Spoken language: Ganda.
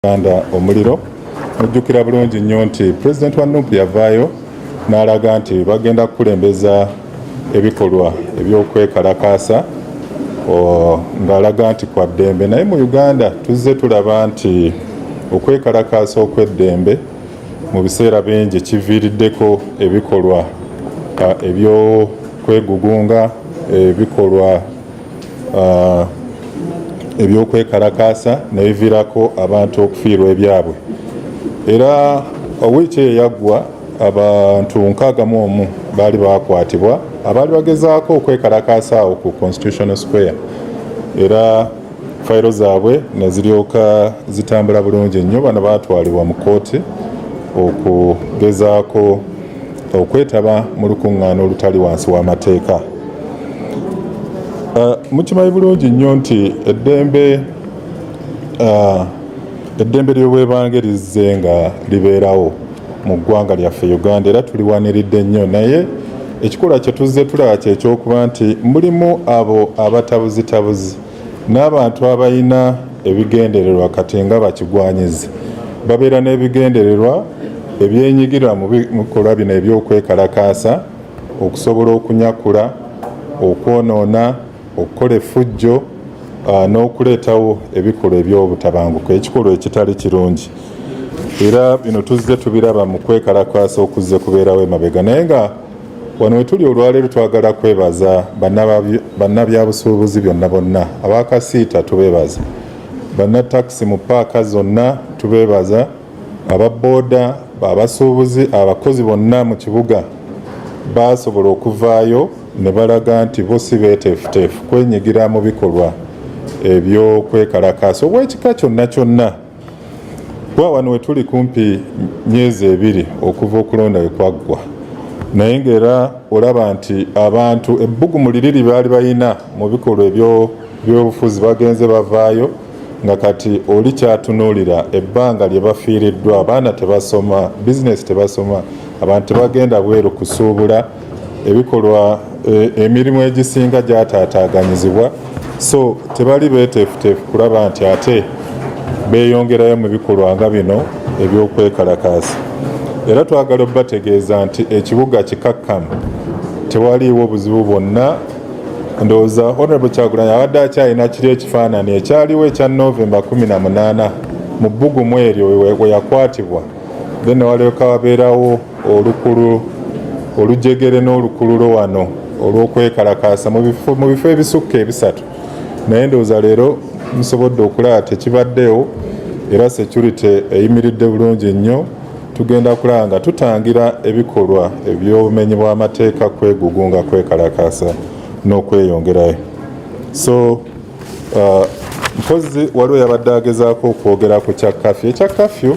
Uganda omuliro mujjukira bulungi nnyo nti pulezidenti wa nup yavaayo n'alaga nti bagenda kukulembeza ebikolwa eby'okwekalakaasa ng'alaga nti kwa ddembe naye mu uganda tuzze tulaba nti okwekalakaasa okw'eddembe mu biseera bingi kiviiriddeko ebikolwa eby'okwegugunga ebikolwa uh, ebyokwekalakaasa nebivirako abantu okufiirwa ebyabwe era wiiki eyo yaggwa abantu nkaaga mu omu baali bakwatibwa abaali bagezaako okwekalakaasa awo ku constitutional square era fayiro zaabwe neziryoka zitambula bulungi nnyo bano baatwalibwa mu kooti okugezaako okwetaba mu lukuŋŋaana olutali wansi w'amateeka uh, mukimanyi bulungi nnyo nti eddembe uh, eddembe ly'obwebange lizze nga libeerawo mu ggwanga lyaffe uganda era tuliwaniridde nnyo naye ekikula kye tuzze tulaba kyekyokuba nti mulimu abo abatabuzitabuzi n'abantu abalina ebigendererwa kati nga bakigwanyizi babeera n'ebigendererwa ebyenyigira mu bikolwa bino eby'okwekalakaasa okusobola okunyakula okwonoona okukola effujjo ah, n'okuleetawo ebikolwa eby'obutabanguko ekikolwa ekitali kirungi era bino tuzze tubiraba mu kwekalakaasa okuzze kubeerawo emabega naye nga Wano wetuli olwaleero twagala kwebaza bannabyabusuubuzi byonna bonna abakasiita tubebaza, bannatakisi mu paaka zonna tubebaza, aba booda, abasuubuzi, abakozi bonna mu kibuga baasobola okuvaayo ne balaga nti bo si beeteefuteefu kwenyigira mu bikolwa eby'okwekalakaasa obw'ekika kyonna kyonna. kuba wano wetuli kumpi myezi ebiri okuva okulonda we kwaggwa naye ngaera olaba nti abantu ebbugumu liriri baali balina mu bikolwa ebyobufuzi bagenze bavaayo nga kati oli kyatunuulira ebbanga lye bafiiriddwa abaana tebasoma bizinesi tebasoma abantu tebagenda bweru kusuubula ebikolwa e, emirimu egisinga gyataataaganyizibwa so tebali beeteefuteefu kulaba nti ate beeyongerayo mu bikolwa nga bino eby'okwekalakaasa era twagala obategeeza nti ekibuga kikakkamu tewaliiwo buzibu bwonna ndowooza honorable kyagulanyi abadde akyalina kiri ekifaanani ekyaliwo ekya novemba 18 mu bbugumu eryo weyakwatibwa then walyoka wabeerawo olukulu olujegere n'olukululo wano olw'okwekalakaasa mu bifo ebisukka ebisatu naye ndowooza leero musobodde okulaba tekibaddewo era security eyimiridde bulungi nnyo tugenda kulaba nga tutangira ebikolwa eby'obumenyi bw'amateeka kwegugunga kwekalakaasa n'okweyongerayo so uh, mpozi waliwo yabadde agezaako okwogera ku kya kafyu ekya kafyu